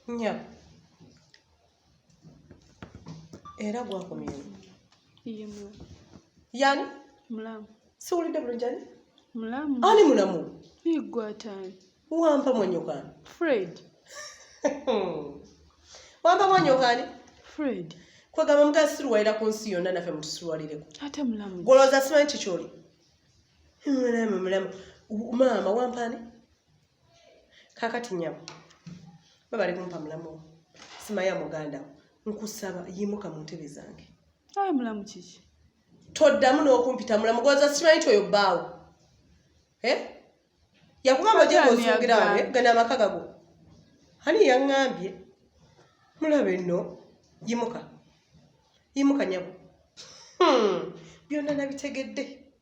nya era gwakomyewo yani mulamu siwulidde bulungi ani mulamu ani mulamu igwatani wampa mwanyokani fred wampa mwanyokani fred kwegamba mukazi siruwalira ku nsi yonna naffe mutusiruwalireko ate mulamu gwolowooza simanyi kikyoli mulamu mulamu maama wampaani kakati nyabo babale kumpa mulamu simaya muganda nkusaba yimuka mu ntebe zange ayi mulamu kiki toddamu n'okumpita mulamu goza simanyi ti oyo bbaawo eh? yakugamba ojegoosungirawo eh? gana amaka gago ani yaŋŋambye mulabe nno yimuka yimuka nyabo hmm. byonna nabitegedde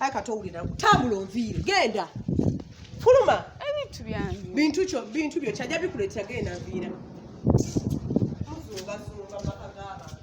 Ayi kati owulira tambula onviire genda fuluma ebintu byange bintu kyo bintu byo kyajja bikuleetera genda nviira muzungazunga maka g'abantu